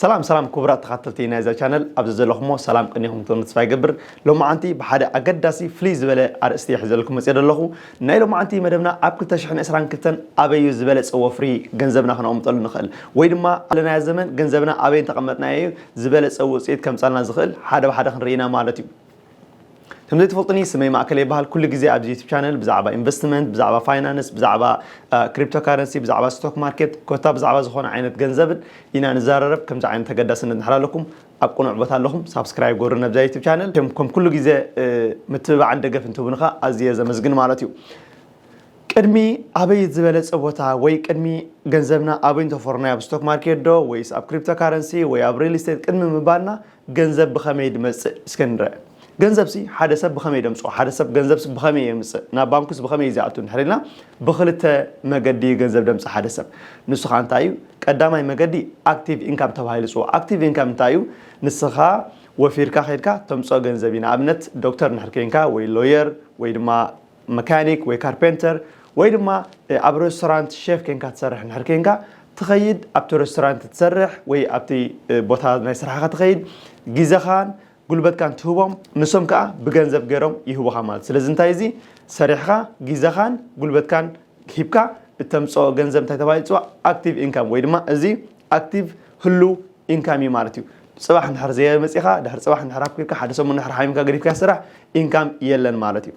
ሰላም ሰላም ክቡራት ተኻተልቲ ናይዛ ቻነል ኣብ ዘዘለኹሞ ሰላም ቅኒኹም ትኾኑ ተስፋ ይገብር ሎማዓንቲ ብሓደ ኣገዳሲ ፍልይ ዝበለ ኣርእስቲ ሕዘልኩም መፅኦ ዘለኹ ናይ ሎማዓንቲ መደብና ኣብ 222 ኣበዩ ዝበለፀ ወፍሪ ገንዘብና ክነቕምጠሉ ንኽእል ወይ ድማ ኣለናዮ ዘመን ገንዘብና ኣበይ እንተቐመጥናዮ እዩ ዝበለፀ ውፅኢት ከምፃልና ዝኽእል ሓደ ብሓደ ክንርኢና ማለት እዩ ከም ዘይትፈልጡኒ ስመይ ማእከለ ይበሃል ኩሉ ግዜ ኣብዚ ዩቱብ ቻነል ብዛዕባ ኢንቨስትመንት ብዛዕባ ፋይናንስ ብዛዕባ ክሪፕቶ ካረንሲ ብዛዕባ ስቶክ ማርኬት ኮታ ብዛዕባ ዝኾነ ዓይነት ገንዘብን ኢና ንዘራረብ ከምዚ ዓይነት ተገዳስነት ንሕር ኣለኩም ኣብ ቅኑዕ ቦታ ኣለኹም ሳብስክራይብ ጎሩ ነብዛ ዩቱብ ቻነል ከም ኩሉ ግዜ ምትብባዕን ደገፍን ትህቡኒ ከ ኣዝየ ዘመስግን ማለት እዩ ቅድሚ ኣበይ ዝበለፀ ቦታ ወይ ቅድሚ ገንዘብና ኣበይ እንተፈርናዮ ኣብ ስቶክ ማርኬት ዶ ወይስ ኣብ ክሪፕቶ ካረንሲ ወይ ኣብ ሪል ስቴት ቅድሚ ምባልና ገንዘብ ብኸመይ ድመጽእ እስከ ንርኣ። ገንዘብሲ ሓደ ሰብ ብኸመይ ደምጽኦ፣ ሓደ ሰብ ገንዘብሲ ብኸመይ የምጽእ፣ ናብ ባንኩስ ብኸመይ እዩ ዚኣቱ እንድሕር ኢልና፣ ብኽልተ መገዲ እዩ ገንዘብ ደምጽእ ሓደ ሰብ። ንሱ ኸኣ እንታይ እዩ? ቀዳማይ መገዲ ኣክቲቭ ኢንካም ተባሂሉ ይጽዋዕ። ኣክቲቭ ኢንካም እንታይ እዩ? ንስኻ ወፊርካ ኬድካ ተምጽኦ ገንዘብ እዩ። ንኣብነት ዶክተር እንድሕር ኴንካ ወይ ሎየር ወይ ድማ መካኒክ ወይ ካርፔንተር ወይ ድማ ኣብ ረስቶራንት ሸፍ ኴንካ ትሰርሕ እንድሕር ኴንካ ትኸይድ ኣብቲ ረስቶራንት ትሰርሕ ወይ ኣብቲ ቦታ ናይ ስራሕኻ ትኸይድ ግዘኻን ጉልበትካን ትህቦም ንሶም ከዓ ብገንዘብ ገይሮም ይህቡኻ ማለት ስለዚ እንታይ እዚ ሰሪሕኻ ግዘኻን ጉልበትካን ሂብካ እተምፅኦ ገንዘብ እንታይ ተባሂሉ ይፅዋዕ ኣክቲቭ ኢንካም ወይ ድማ እዚ ኣክቲቭ ህሉው ኢንካም እዩ ማለት እዩ ጽባሕ እንድሕር ዘየመጺኻ ድሕሪ ጽባሕ እንድሕር ኣኩብካ ሓደ ሰሙን እንድሕር ሓሚምካ ገዲፍካ ስራሕ ኢንካም የለን ማለት እዩ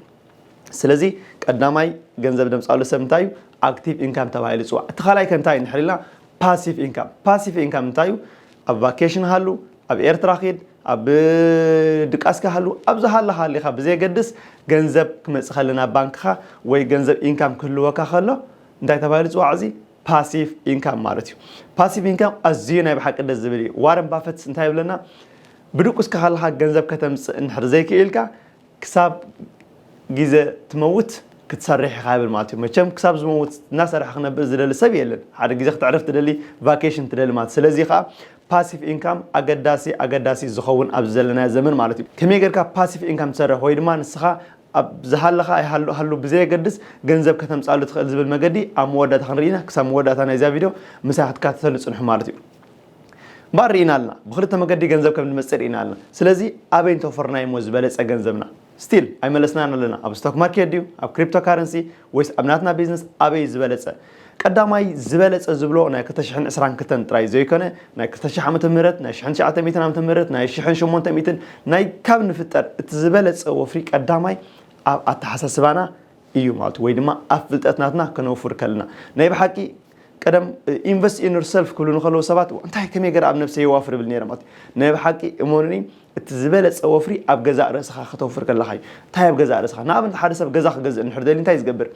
ስለዚ ቀዳማይ ገንዘብ ደምጻሉ ሰብ እንታይ እዩ ኣክቲቭ ኢንካም ተባሂሉ ይጽዋዕ እቲ ካልኣይ ከ እንታይ እንድሕር ኢልና ፓሲቭ ኢንካም ፓሲቭ ኢንካም እንታይ እዩ ኣብ ቫኬሽን ሃሉ ኣብ ኤርትራ ኺድ ኣብ ድቃስካ ሃሉ ኣብ ዝሃለ ሃሊኻ ብዘየገድስ ገንዘብ ክመጽእ ከለና ባንክኻ ወይ ገንዘብ ኢንካም ክህልወካ ከሎ እንታይ ተባሂሉ ጽዋዕ እዚ ፓሲቭ ኢንካም ማለት እዩ ፓሲቭ ኢንካም ኣዝዩ ናይ ብሓቂ ደስ ዝብል እዩ ዋረን ባፈት እንታይ ይብለና ብድቁስካ ከለካ ገንዘብ ከተምፅእ እንድሕር ዘይክኢልካ ክሳብ ግዜ ትመውት ክትሰርሕ ኢኻ ይብል ማለት እዩ መቸም ክሳብ ዝመውት እናሰርሐ ክነብር ዝደሊ ሰብ የለን ሓደ ግዜ ክትዕረፍ ትደሊ ቫኬሽን ትደሊ ማለት ስለዚ ከዓ ፓሲቭ ኢንካም ኣገዳሲ ኣገዳሲ ዝኸውን ኣብዚ ዘለና ዘመን ማለት እዩ ከመይ ጌርካ ፓሲቭ ኢንካም ትሰርሕ ወይ ድማ ንስኻ ኣብ ዝሃለኻ ኣይሃሉ ሃሉ ብዘየገድስ ገንዘብ ከተምጻሉ ትኽእል ዝብል መገዲ ኣብ መወዳእታ ክንርኢ ኢና ክሳብ መወዳእታ ናይዛ ቪድዮ ምሳይ ክትካተተሉ ጽንሑ ማለት እዩ እምበኣር ርኢና ኣለና ብክልተ መገዲ ገንዘብ ከም ንመጽእ ርኢና ኣለና ስለዚ ኣበይ እንተወፈርና እዩሞ ዝበለጸ ገንዘብና ስቲል ኣይመለስናን ኣለና ኣብ ስቶክ ማርኬት ድዩ ኣብ ክሪፕቶ ካረንሲ ወይስ ኣብ ናትና ቢዝነስ ኣበይ እዩ ዝበለጸ ቀዳማይ ዝበለጸ ዝብሎ ናይ ክልተ ሽሕን ዕስራን ክልተን ጥራይ ዘይኮነ፣ ናይ ክልተ ሽሕ ዓመተ ምህረት፣ ናይ ሽሕን ትሽዓተ ሚእትን ዓመተ ምህረት፣ ናይ ሽሕን ሸሞንተ ሚእትን፣ ናይ ካብ ንፍጠር እቲ ዝበለጸ ወፍሪ ቀዳማይ ኣብ ኣተሓሳስባና እዩ ማለቱ ወይ ድማ ኣብ ፍልጠት ናትና ከነውፍር ከለና። ናይ ብሓቂ ቀደም ኢንቨስት ኢን ዮርሰልፍ ክብሉ ንከለዉ ሰባት እንታይ ከመይ ገረ ኣብ ነብሰይ የዋፍር እብል ነይረ ማለት እዩ። ናይ ብሓቂ እመኑኒ እቲ ዝበለጸ ወፍሪ ኣብ ገዛእ ርእስኻ ከተውፍር ከለኻ እዩ። እንታይ ኣብ ገዛእ ርእስኻ ንኣብነት ሓደ ሰብ ገዛ ክገዝእ እንድሕር ደልዩ እንታይ እዩ ዝገብር?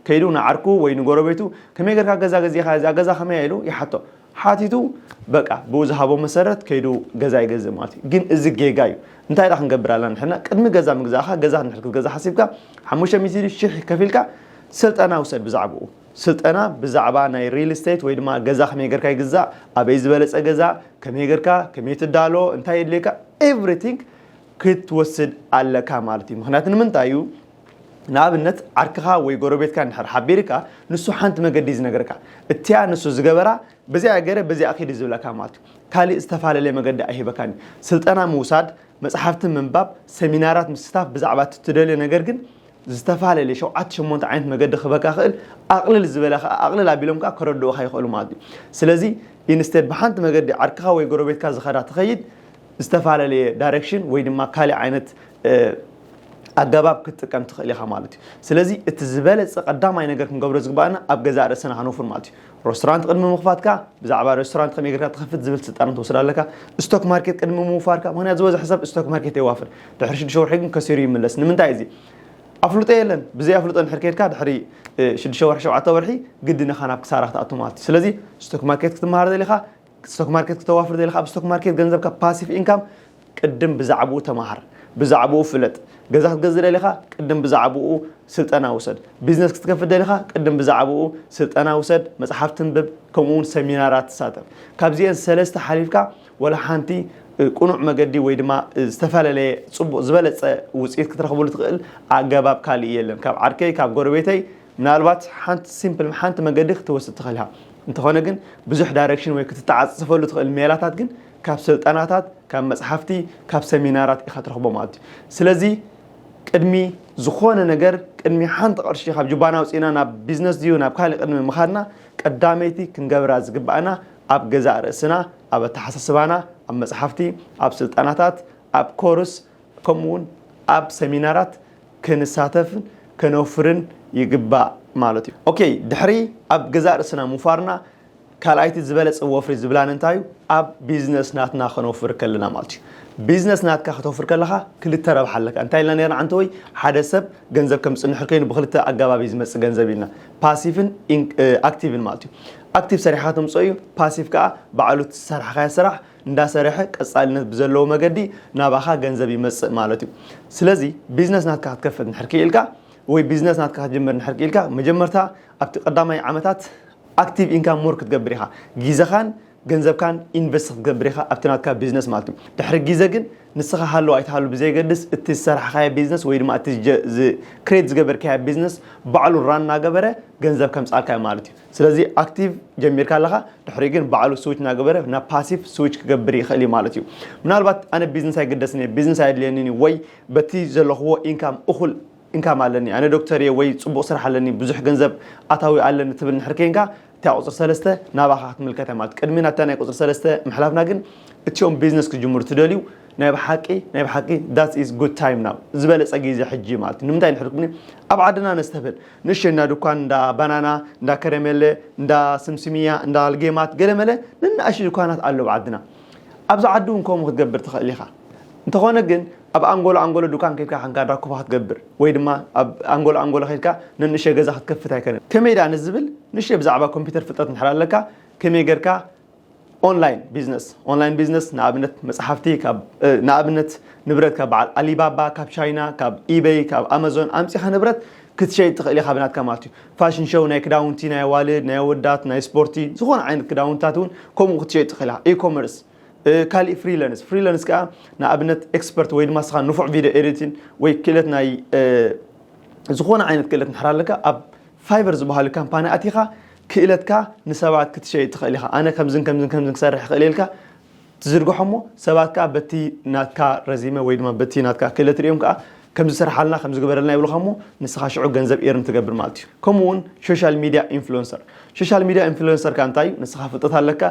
ከይዱ ንዓርኩ ወይ ንጎረቤቱ ከመይ ጌርካ ገዛ ገዚእኻ እዛ ገዛ ከመይ እያ ኢሉ ይሓቶ ሓቲቱ በቃ ብኡ ዝሃቦ መሰረት ከይዱ ገዛ ይገዝእ ማለት እዩ ግን እዚ ጌጋ እዩ እንታይ ኢና ክንገብር ኣለና ንሕና ቅድሚ ገዛ ምግዛእኻ ገዛ ንድሕር ክትገዛ ሓሲብካ ሓሙሽተ ሚእቲ ሽሕ ከፊልካ ስልጠና ውሰድ ብዛዕባኡ ስልጠና ብዛዕባ ናይ ሪል ስቴት ወይ ድማ ገዛ ከመይ ጌርካ ይግዛእ ኣበይ ዝበለፀ ገዛ ከመይ ጌርካ ከመይ ትዳሎ እንታይ የድልየካ ኤቭሪቲንግ ክትወስድ ኣለካ ማለት እዩ ምክንያቱ ንምንታይ እዩ ንኣብነት ዓርክኻ ወይ ጎረቤትካ እንድሕር ሓቢርካ ንሱ ሓንቲ መገዲ እዩ ዝነገርካ እቲያ ንሱ ዝገበራ በዚኣ ገረ በዚኣ ኪድ እዩ ዝብለካ ማለት እዩ ካሊእ ዝተፋለለየ መገዲ ኣይህበካን እዩ ስልጠና ምውሳድ መፅሓፍቲ ምንባብ ሰሚናራት ምስታፍ ብዛዕባ እቲ ትደልዮ ነገር ግን ዝተፋለለየ ሸውዓተ ሸሞንተ ዓይነት መገዲ ክህበካ ክእል ኣቅልል ዝበለ ከዓ ኣቅልል ኣቢሎም ከዓ ከረድኡካ ይክእሉ ማለት እዩ ስለዚ ኢንስቴድ ብሓንቲ መገዲ ዓርክኻ ወይ ጎረቤትካ ዝኸዳ ትኸይድ ዝተፋለለየ ዳይሬክሽን ወይ ድማ ካሊእ ዓይነት ኣገባብ ክትጥቀም ትኽእል ኢኻ ማለት እዩ ስለዚ እቲ ዝበለፀ ቀዳማይ ነገር ክንገብሮ ዝግባእና ኣብ ገዛእ ርእሰና ሃኖፍር ማለት እዩ ሬስቶራንት ቅድሚ ምኽፋትካ ብዛዕባ ሬስቶራንት ከመይ ጌርካ ትኸፍት ዝብል ስልጣን ትወስድ ኣለካ ስቶክ ማርኬት ቅድሚ ምውፋርካ ምክንያት ዝበዝሐ ሰብ ስቶክ ማርኬት የዋፍር ድሕሪ ሽዱሽተ ወርሒ ግን ከሲሩ ይምለስ ንምንታይ እዚ ኣፍልጦ የለን ብዘይ ኣፍልጦ ድሕሪ ከድካ ድሕሪ ሽዱሽተ ወርሒ ሸውዓተ ወርሒ ግድን ኢኻ ናብ ክሳራ ክትኣቱ ማለት እዩ ስለዚ ስቶክ ማርኬት ክትመሃር ዘሊኻ ስቶክ ማርኬት ክተዋፍር ዘይለካ ኣብ ስቶክ ማርኬት ገንዘብካ ፓሲቭ ኢንካም ቅድም ብዛዕብኡ ተማሃር ብዛዕብኡ ፍለጥ ገዛ ክትገዝእ ደሊኻ ቅድም ብዛዕብኡ ስልጠና ውሰድ ቢዝነስ ክትከፍት ደሊኻ ቅድም ብዛዕብኡ ስልጠና ውሰድ መጽሓፍ ትንብብ ከምኡ እውን ሰሚናራት ትሳተፍ ካብዚኤን ሰለስተ ሓሊፍካ ወላ ሓንቲ ቅኑዕ መገዲ ወይ ድማ ዝተፈላለየ ጽቡቕ ዝበለጸ ውጽኢት ክትረኽብሉ ትኽእል ኣገባብ ካልእ የለን ካብ ዓርከይ ካብ ጎረቤተይ ምናልባት ሓንቲ ሲምፕል ሓንቲ መንገዲ ክትወስድ ትኽእል ኢኻ። እንተኾነ ግን ብዙሕ ዳይረክሽን ወይ ክትተዓጻጸፈሉ ትኽእል ሜላታት ግን ካብ ስልጠናታት፣ ካብ መጽሓፍቲ፣ ካብ ሰሚናራት ኢኻ ትረኽቦ ማለት እዩ። ስለዚ ቅድሚ ዝኾነ ነገር ቅድሚ ሓንቲ ቅርሺ ካብ ጁባና ኣውጺእና ናብ ቢዝነስ ድዩ ናብ ካልእ ቅድሚ ምኻድና ቀዳመይቲ ክንገብራ ዝግባኣና ኣብ ገዛእ ርእስና ኣብ ኣተሓሳስባና ኣብ መጽሓፍቲ ኣብ ስልጠናታት ኣብ ኮርስ ከምኡውን ኣብ ሰሚናራት ክንሳተፍን ከነውፍርን ይግባእ ማለት እዩ። ኦኬይ ድሕሪ ኣብ ገዛእ ርእስና ምውፋርና ካልኣይቲ ዝበለጸ ወፍሪ ዝብላን እንታይ እዩ? ኣብ ቢዝነስ ናትና ከነውፍር ከለና ማለት እዩ። ቢዝነስ ናትካ ከተውፍር ከለኻ ክልተ ረብሓ ኣለካ። እንታይ ኢልና ነርና ዓንተወይ? ሓደ ሰብ ገንዘብ ከም ዝጽንሕ እንከይኑ ብክልተ ኣገባብ እዩ ዝመጽእ ገንዘብ ኢልና። ፓሲቭን ኣክቲቭን ማለት እዩ። ኣክቲቭ ሰሪሕካ ተምጽኦ እዩ፣ ፓሲቭ ከኣ ባዕሉ እቲ ዝሰርሓካዮ ስራሕ እንዳሰረሐ ቀጻልነት ብዘለዎ መገዲ ናባኻ ገንዘብ ይመጽእ ማለት እዩ። ስለዚ ቢዝነስ ናትካ ክትከፍት እንድሕር ክኢልካ ወይ ቢዝነስ ናትካ ክትጅምር እንድሕር ክኢልካ መጀመርታ ኣብቲ ቀዳማይ ዓመታት ኣክቲቭ ኢንካም ሞር ክትገብር ኢኻ። ጊዘኻን ገንዘብካን ኢንቨስት ክትገብር ኢኻ ኣብቲ ናትካ ቢዝነስ ማለት እዩ። ድሕሪ ጊዘ ግን ንስኻ ሃሉ ኣይትሃሉ ብዘየገድስ እቲ ዝሰራሕኻዮ ቢዝነስ ወይ ድማ እቲ ክሬት ዝገበርካዮ ቢዝነስ ባዕሉ ራን እናገበረ ገንዘብ ከምጽኣልካ እዩ ማለት እዩ። ስለዚ ኣክቲቭ ጀሚርካ ኣለኻ ድሕሪኡ ግን ባዕሉ ስዊች እናገበረ ናብ ፓሲቭ ስዊች ክገብር ይኽእል እዩ ማለት እዩ ምናልባት ኣነ ቢዝነስ ኣይግደስን እየ ቢዝነስ ኣየድልየንን እዩ ወይ በቲ ዘለኽዎ ኢንካም እኹል እንካም ኣለኒ ኣነ ዶክተር እየ ወይ ፅቡቕ ስራሕ ኣለኒ ብዙሕ ገንዘብ ኣታዊ ኣለኒ ትብል ንድሕር ከይንካ እታ ቁፅሪ ሰለስተ ናባኻ ክትምልከት እያ ማለት ቅድሚ ናብታ ናይ ቁፅሪ ሰለስተ ምሕላፍና ግን እቲኦም ቢዝነስ ክጅምሩ ትደልዩ ናይ ብሓቂ ናይ ብሓቂ ዳት ኢዝ ጉድ ታይም ናው ዝበለፀ ግዜ ሕጂ ማለት ንምንታይ ንሕልኩምኒ ኣብ ዓድና ነስተብህል ንእሽተይ እንዳ ድኳን፣ እንዳ ባናና፣ እንዳ ከረሜለ፣ እንዳ ስምስምያ፣ እንዳ ልጌማት ገለመለ ነናእሽቱ ድኳናት ኣለዉ ኣብ ዓድና። ኣብዚ ዓዲ እውን ከምኡ ክትገብር ትኽእል ኢኻ። እንተኾነ ግን ኣብ ኣንጎሎ ኣንጎሎ ድኳን ከድካ ኻንካ ዳኩፋ ክትገብር ወይ ድማ ኣብ ኣንጎሎ ኣንጎሎ ከድካ ነንእሽተይ ገዛ ክትከፍት ኣይከነን። ከመይ ደኣ ንዝብል ንእሽተይ ብዛዕባ ኮምፒተር ፍልጠት እንድሕር ኣለካ ከመይ ገርካ ኦንላይን ቢዝነስ ኦንላይን ቢዝነስ ንኣብነት መፅሓፍቲ ካብ ንኣብነት ንብረት ካብ በዓል ኣሊባባ ካብ ቻይና ካብ ኢበይ ካብ ኣማዞን ኣምፂኻ ንብረት ክትሸይጥ ትኽእል ኢኻ ብናትካ ማለት እዩ ፋሽን ሸው ናይ ክዳውንቲ ናይ ኣዋልድ ናይ ኣወዳት ናይ ስፖርቲ ዝኾነ ዓይነት ክዳውንትታት እውን ከምኡ ክትሸይጥ ትኽእል ኢኻ ኢኮመርስ ካልእ ፍሪላንስ ፍሪላንስ ከዓ ንኣብነት ኤክስፐርት ወይ ድማ ስኻ ንፉዕ ቪድዮ ኤዲቲን ወይ ክእለት ናይ ዝኾነ ዓይነት ክእለት ንሕር ኣለካ ኣብ ፋይበር ዝበሃሉ ካምፓኒ ኣቲኻ ክእለትካ ንሰባት ክትሸይጥ ትኽእል ኢኻ። ኣነ ከምዝን ከምዝን ከምዝን ክሰርሕ ይኽእል እየ ኢልካ ትዝርግሖ እሞ ሰባት ከኣ በቲ ናትካ ረዚመ ወይ ድማ በቲ ናትካ ክእለት ርእዮም ከኣ ከምዚ ስርሓልና ከምዚ ግበረልና ይብሉኻ እሞ ንስኻ ሽዑ ገንዘብ ኤርን ትገብር ማለት እዩ። ከምኡ እውን ሾሻል ሚድያ ኢንፍሉዌንሰር። ሾሻል ሚድያ ኢንፍሉዌንሰር ከኣ እንታይ እዩ ንስኻ ፍልጠት ኣለካ፣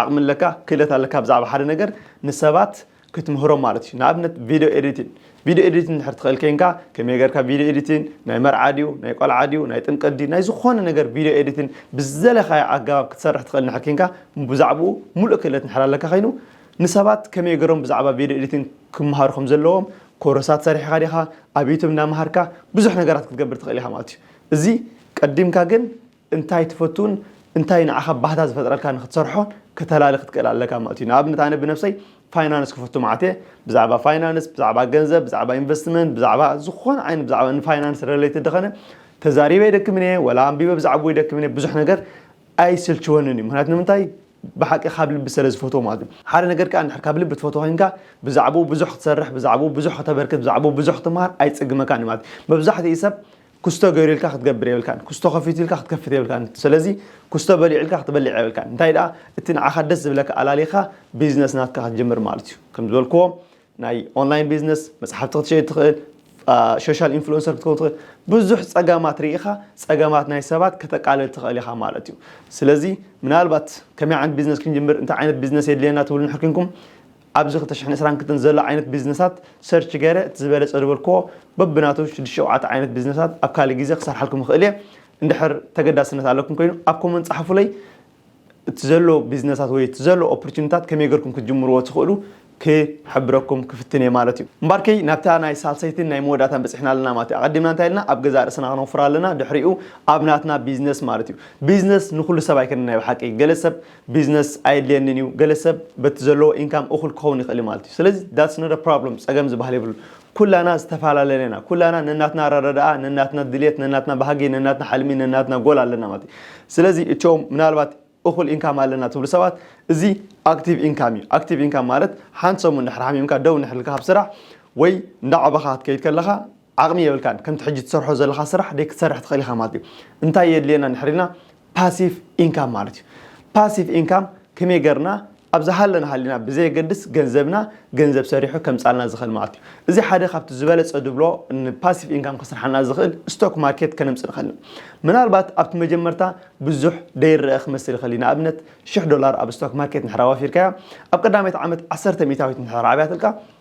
ዓቕሚ ኣለካ፣ ክእለት ኣለካ ብዛዕባ ሓደ ነገር ንሰባት ክትምህሮም ማለት እዩ ንኣብነት ቪድዮ ኤዲቲን ቪድዮ ኤዲቲን እንድሕር ትኽእል ኬንካ ከመይ ጌርካ ቪድዮ ኤዲቲን ናይ መርዓ ድዩ ናይ ቆልዓ ድዩ ናይ ጥምቀት ድዩ ናይ ዝኾነ ነገር ቪድዮ ኤዲቲን ብዝደለኻዮ ኣገባብ ክትሰርሕ ትኽእል እንድሕር ኬንካ ብዛዕብኡ ሙሉእ ክእለት እንድሕር ኣለካ ኸይኑ ንሰባት ከመይ ገይሮም ብዛዕባ ቪድዮ ኤዲቲን ክመሃሩ ከም ዘለዎም ኮረሳት ሰሪሕኻ ዲኻ ኣብ ዩቱብ እናመሃርካ ብዙሕ ነገራት ክትገብር ትኽእል ኢኻ ማለት እዩ እዚ ቀዲምካ ግን እንታይ ትፈቱን እንታይ ንዓኻ ባህታ ዝፈጥረልካን ንክትሰርሖ ከተላሊ ክትክእል ኣለካ ማለት እዩ። ንኣብነት ኣነ ብነብሰይ ፋይናንስ ክፈቱ መዓት እየ። ብዛዕባ ፋይናንስ፣ ብዛዕባ ገንዘብ፣ ብዛዕባ ኢንቨስትመንት፣ ብዛዕባ ዝኾነ ዓይነት ብዛዕባ ንፋይናንስ ረለይትድ ዝኸነ ተዛሪበ ኣይደክምን እየ፣ ወላ ኣንቢበ ብዛዕብኡ ኣይደክምን እየ፣ ብዙሕ ነገር ኣይስልችወንን እዩ። ምክንያቱ ንምንታይ ብሓቂ ካብ ልቢ ሰለ ዝፈትዎ ማለት እዩ። ሓደ ነገር ከኣ እንድሕር ካብ ልቢ ትፈትዎ ኮይንካ ብዛዕብኡ ብዙሕ ክትሰርሕ፣ ብዛዕብኡ ብዙሕ ከተበርክት፣ ብዛዕብኡ ብዙሕ ክትምሃር ኣይጽግመካን እዩ ማለት እዩ። መብዛሕትኡ ሰብ ኩስቶ ገይሩልካ ክትገብር የብልካን ኩስቶ ከፊቱልካ ክትከፍት የብልካን ሰለዚ ኩስቶ በሊዑልካ ክትበልዕ የብልካን እንታይ ደኣ እቲ ንዓኻ ደስ ዝብለካ ኣላሊኻ ቢዝነስ ናትካ ክትጅምር ማለት እዩ ከም ዝበልክዎ ናይ ኦንላይን ቢዝነስ መጽሓፍቲ ክትሸይድ ትኽእል ሶሻል ኢንፍሉንሰር ክትከውን ትኽእል ብዙሕ ጸገማት ርኢኻ ጸገማት ናይ ሰባት ከተቃልል ትኽእል ኢኻ ማለት እዩ ስለዚ ምናልባት ከመይ ዓይነት ቢዝነስ ክንጅምር እንታይ ዓይነት ቢዝነስ የድልየና ትብሉ ንሕር ኣብዚ ክልተ ሽሕን ዕስራን ክልተን ዘሎ ዓይነት ቢዝነሳት ሰርች ገይረ እቲ ዝበለጸ ዝበልክዎ በብናቱ ሽዱሽተ ሸውዓተ ዓይነት ቢዝነሳት ኣብ ካልእ ግዜ ክሰርሓልኩም ይኽእል እየ እንድሕር ተገዳስነት ኣለኩም ኮይኑ ኣብ ኮመንት ጸሓፉለይ እቲ ዘሎ ቢዝነሳት ወይ እቲ ዘሎ ኦፖርቹኒታት ከመይ ገርኩም ክትጅምርዎ ትኽእሉ ክሕብረኩም ክፍትን እየ ማለት እዩ እምባርከይ ናብታ ናይ ሳልሰይትን ናይ መወዳእታን በጺሕና ኣለና ማለት እዩ ኣቐዲምና እንታይ ኢልና ኣብ ገዛ ርእስና ክነውፍር ኣለና ድሕሪኡ ኣብ ናትና ቢዝነስ ማለት እዩ ቢዝነስ ንኹሉ ሰብ ኣይከነን ናይ ብሓቂ ገለ ሰብ ቢዝነስ ኣየድልየንን እዩ ገለ ሰብ በቲ ዘለዎ ኢንካም እኹል ክኸውን ይኽእል እዩ ማለት እዩ ስለዚ that's not a problem ጸገም ዝበሃል የብሉን ኩላና ዝተፈላለና ኢና ኩላና ነናትና ኣረዳድኣ ነናትና ድልየት ነናትና ባህጊ ነናትና ሕልሚ ነናትና ጎል ኣለና ማለት እዩ ስለዚ እቶም ምናልባት እኹል ኢንካም ኣለና ትብሉ ሰባት እዚ ኣክቲቭ ኢንካም እዩ ኣክቲቭ ኢንካም ማለት ሓንቲ ሰሙን ድሕሪ ሓሚምካ ደው እንድሕር ኢልካ ካብ ስራሕ ወይ እንዳዓበኻ ክትከይድ ከለኻ ዓቕሚ የብልካን ከምቲ ሕጂ ትሰርሖ ዘለኻ ስራሕ ደይ ክትሰርሕ ትኽእል ኢኻ ማለት እዩ። እንታይ የድልየና እንድሕር ኢልና ፓሲቭ ኢንካም ማለት እዩ። ፓሲቭ ኢንካም ከመይ ገርና ኣብ ዝሃለና ሃሊና ብዘየገድስ ገንዘብና ገንዘብ ሰሪሑ ከምጻልና ዝኽእል ማለት እዩ። እዚ ሓደ ካብቲ ዝበለጸ ድብሎ ንፓሲቭ ኢንካም ከስርሓና ዝኽእል ስቶክ ማርኬት ከነምጽእ ንኽእል ኢና። ምናልባት ኣብቲ መጀመርታ ብዙሕ ደይረኣ ክመስል ይኽእል እዩ። ንኣብነት ሽሕ ዶላር ኣብ ስቶክ ማርኬት እንድሕር ኣዋፊርካያ ኣብ ቀዳመይቲ ዓመት ዓሰርተ ሚእታዊት እንድሕር ኣዕብያትልካ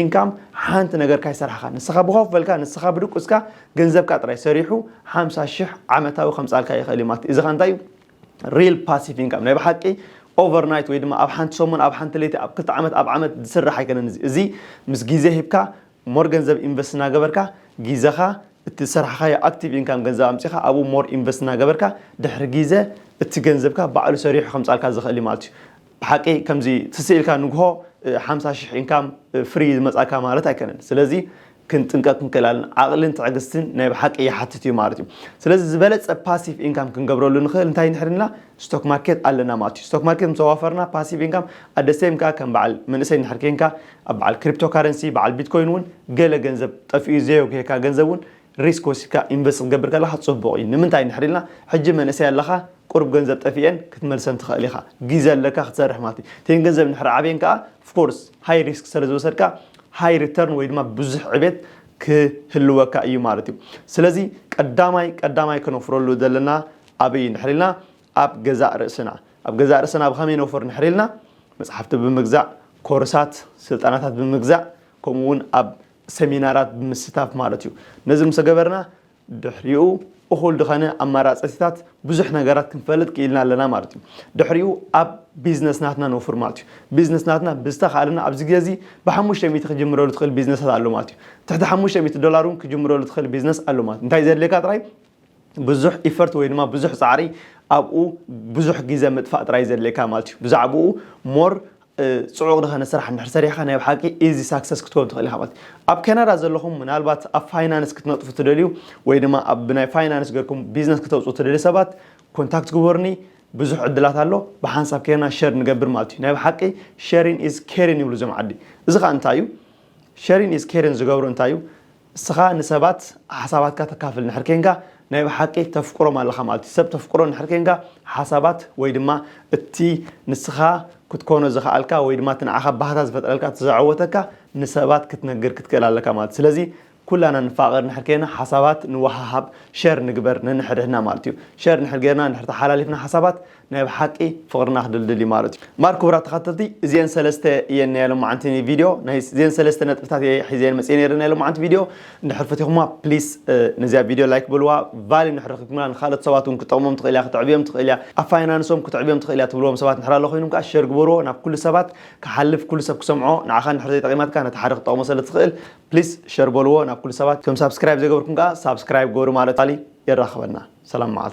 ኢንካም ሓንቲ ነገር ካይሰርሓኻ ንስኻ ብኾፍ በልካ ንስኻ ብድቁስካ ገንዘብካ ጥራይ ሰሪሑ ሓምሳ ሽሕ ዓመታዊ ከምጻልካ ይኽእል እዩ ማለት እዚ ኸ እንታይ እዩ ሪል ፓሲቭ ኢንካም ናይ ብሓቂ ኦቨር ናይት ወይ ድማ ኣብ ሓንቲ ሰሙን ኣብ ሓንቲ ለይቲ ኣብ ክልተ ዓመት ኣብ ዓመት ዝስራሕ ኣይኮነን እዚ እዚ ምስ ግዜ ሂብካ ሞር ገንዘብ ኢንቨስት እናገበርካ ግዜኻ እቲ ዝሰራሕኻዮ ኣክቲቭ ኢንካም ገንዘብ ኣምፂኻ ኣብኡ ሞር ኢንቨስት እናገበርካ ድሕሪ ግዜ እቲ ገንዘብካ ባዕሉ ሰሪሑ ከምፃልካ ዝኽእል ማለት እዩ ብሓቂ ከምዚ ስስዕ ኢልካ ንግሆ ሓምሳ ሽሕ ኢንካም ፍሪ ዝመጻካ ማለት ኣይከነን ስለዚ ክንጥንቀቅ ክንክእላለን ዓቅልን ትዕግስትን ናይ ብሓቂ ይሓትት እዩ ማለት እዩ ስለዚ ዝበለጸ ፓሲቭ ኢንካም ክንገብረሉ ንክእል እንታይ ንሕድና ስቶክ ማርኬት ኣለና ማለት እዩ ስቶክ ማርኬት ምስ ኣዋፈርና ፓሲቭ ኢንካም ኣደሴም ከኣ ከም በዓል መንእሰይ ንድሕር ኬንካ ኣብ በዓል ክሪፕቶ ካረንሲ በዓል ቢትኮይን እውን ገለ ገንዘብ ጠፍኡ ዘየጉሄካ ገንዘብ እውን ሪስክ ወሲድካ ኢንቨስት ክትገብር ከለኻ ጽቡቕ እዩ ንምንታይ እንድሕር ኢልና ሕጂ መንእሰይ ኣለኻ ቁሩብ ገንዘብ ጠፊኤን ክትመልሰን ትኽእል ኢኻ ጊዘ ኣለካ ክትሰርሕ ማለት እዩ እተን ገንዘብ እንድሕር ዓብየን ከኣ ፍኮርስ ሃይ ሪስክ ሰለዝወሰድካ ሃይ ሪተርን ወይ ድማ ብዙሕ ዕቤት ክህልወካ እዩ ማለት እዩ ስለዚ ቀዳማይ ቀዳማይ ከነውፍረሉ ዘለና ኣበይ እዩ እንድሕር ኢልና ኣብ ገዛእ ርእስና ኣብ ገዛእ ርእስና ብኸመይ ነውፍር እንድሕር ኢልና መጽሓፍቲ ብምግዛእ ኮርሳት ስልጠናታት ብምግዛእ ከምኡ እውን ኣብ ሰሚናራት ብምስታፍ ማለት እዩ። ነዚ ምስ ገበርና ድሕሪኡ እኹል ድኸነ ኣማራፅቲታት ብዙሕ ነገራት ክንፈልጥ ክኢልና ኣለና ማለት እዩ። ድሕሪኡ ኣብ ቢዝነስ ናትና ነውፍር ማለት እዩ። ቢዝነስ ናትና ብዝተኻእለና ኣብዚ ግዜ እዚ ብሓሙሽተ ሚእቲ ክጅምረሉ ትኽእል ቢዝነሳት ኣሎ ማለት እዩ። ትሕቲ ሓሙሽተ ሚእቲ ዶላር እውን ክጅምረሉ ትኽእል ቢዝነስ ኣሎ ማለት እዩ። እንታይ ዘድልየካ ጥራይ ብዙሕ ኢፈርት ወይ ድማ ብዙሕ ጻዕሪ ኣብኡ ብዙሕ ግዘ ምጥፋእ ጥራይ ዘድልየካ ማለት እዩ ብዛዕብኡ ሞር ፅዑቕ ዝኾነ ስራሕ እንድሕር ሰሪሕካ ናይ ብሓቂ ኢዚ ሳክሰስ ክትኮን ትኽእል ኢኻ ማለት ኣብ ካናዳ ዘለኹም ምናልባት ኣብ ፋይናንስ ክትነጥፉ ትደልዩ ወይ ድማ ኣብ ብናይ ፋይናንስ ገርኩም ቢዝነስ ክተውፅኡ ትደልዩ ሰባት ኮንታክት ግበሩኒ ብዙሕ ዕድላት ኣሎ ብሓንሳብ ከይና ሸር ንገብር ማለት እዩ ናይ ብሓቂ ሸሪን ኢዝ ኬሪን ይብሉ እዞም ዓዲ እዚ ከዓ እንታይ እዩ ሸሪን ኢዝ ኬሪን ዝገብሩ እንታይ እዩ እስኻ ንሰባት ሓሳባትካ ተካፍል እንድሕር ኴንካ ናይ ብሓቂ ተፍቅሮም ኣለኻ ማለት እዩ። ሰብ ተፍቅሮ እንድሕር ኴንካ ሓሳባት ወይ ድማ እቲ ንስኻ ክትኮኖ ዝኸኣልካ ወይ ድማ እቲ ንዓኻ ባህታ ዝፈጥረልካ እቲ ዘዐወተካ ንሰባት ክትነግር ክትክእል ኣለካ ማለት እዩ። ስለዚ ኩላና ንፋቐር እንድሕር ኴና ሓሳባት ንወሃሃብ፣ ሸር ንግበር ነንሕድሕድና ማለት እዩ። ሸር እንድሕር ጌርና እንድሕር ተሓላሊፍና ሓሳባት ናይ ብሓቂ ፍቅርና ክድልድል እዩ ማለት እዩ እምበር ክቡራት ተኸተልቲ እዚኤን ሰለስተ እየን ናይ ሎማዓንቲ ቪድዮ ናይ እዚኤን ሰለስተ ነጥብታት እየ ሒዘየን መፅየ ነይረ ናይ ሎማዓንቲ ቪድዮ እንድሕር ፈቲኹማ ፕሊስ ነዚኣ ቪድዮ ላይክ በልዋ ቫሊ እንድሕር ረኺብኩምና ንካልኦት ሰባት እውን ክጠቕሞም ትኽእል እያ ክትዕብዮም ትኽእል እያ ኣብ ፋይናንሶም ክትዕብዮም ትኽእል እያ ትብልዎም ሰባት እንድሕር ኣሎ ኮይኑም ከዓ ሸር ግበርዎ ናብ ኩሉ ሰባት ክሓልፍ ኩሉ ሰብ ክሰምዖ ንዓኻ እንድሕር ዘይጠቒማትካ ነቲ ሓደ ክትጠቕሞ ስለ ትኽእል ፕሊስ ሸር በልዎ ናብ ኩሉ ሰባት እቶም ሳብስክራይብ ዘይገበርኩም ከዓ ሳብስክራይብ ግበሩ ማለት ቫሊ የራኽበና ሰላም መዓልቲ